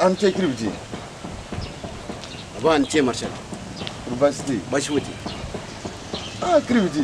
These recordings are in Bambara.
an cɛ kiribiti a b'an cɛ marisali basi tɛ yen basi foyi tɛ yen aa kiribiti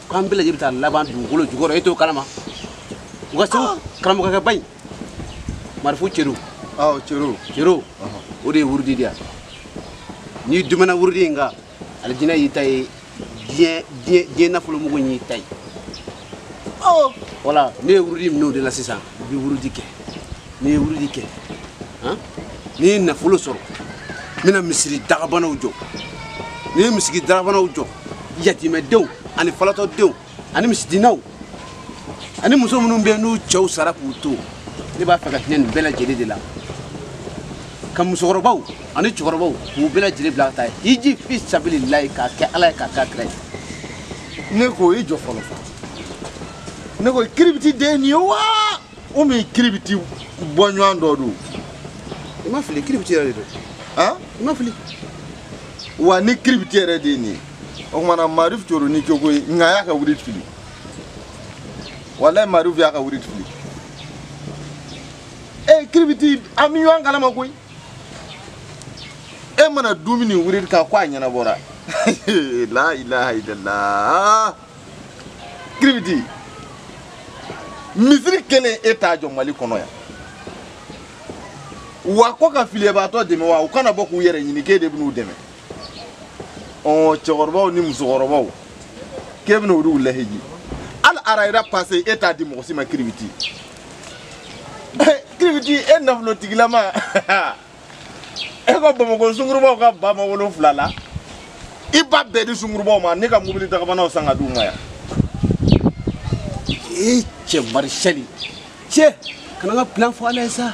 k'an bɛɛ lajɛlen bɛ taa laban dugukolo jukɔrɔ e t'o kalama u ka segu karamɔgɔkɛba in marifu cero cero cero o de ye wurudi di yan n'i dumɛna wurudi in kan alijinɛ y'i ta ye diɲɛ diɲɛ diɲɛ nafolomugu y'i ta ye wala ne ye wurudi minɛ o de la sisan n bɛ wurudi kɛ ni n ye wurudi kɛ ni n ye nafolo sɔrɔ n bɛna misiri dagabanaw jɔ ni n ye misiri dagabanaw jɔ yatimɛdenw ani falatɔdenw ani misikinaw ani muso minnu bɛ n'u cɛw sara k'u to ne b'a fɛ ka hinɛ nin bɛɛ lajɛlen de la ka musokɔrɔbaw ani cɛkɔrɔbaw k'u bɛɛ lajɛlen bila ka taa hiji fi sabililayi k'a kɛ ala ye k'a k'a kira ye ne ko i jɔ fɔlɔ ne ko kiribiti de nin ye wa ou bien kiribiti bɔɲɔgɔn dɔ don i ma fili kiribiti yɛrɛ de don han i ma fili wa ni kiribiti yɛrɛ de ye nin ye o tuma na marif coro ni cogo ye nka a y'a ka wurudi fili walayi marif y'a ka wurudi fili ee kiribiti an bɛ ɲɔgɔn kalama koyi e mana dumɛ nin wurudi kan ko a ɲɛnabɔra la ilaha illallah kiribiti misiri kelen e t'a jɔ mali kɔnɔ yan wa ko ka filibaatɔ dɛmɛ wa u kana bɔ k'u yɛrɛ ɲini k'e de bɛn'u dɛmɛ ɔ cɛkɔrɔbaw ni musokɔrɔbaw k'e bɛna olu lahiji hali arayida pase e t'a di mɔgɔ si ma kiribiti kiribiti e nafolotigilama e ko bamakɔ sungurubaw ka ba ma wolonfila la i b'a bɛɛ di sungurubaw ma ni ka mobili dagabanaw san ka di u ma yan e cɛ marisɛli cɛ kana n ka plan fɔ ala ye sa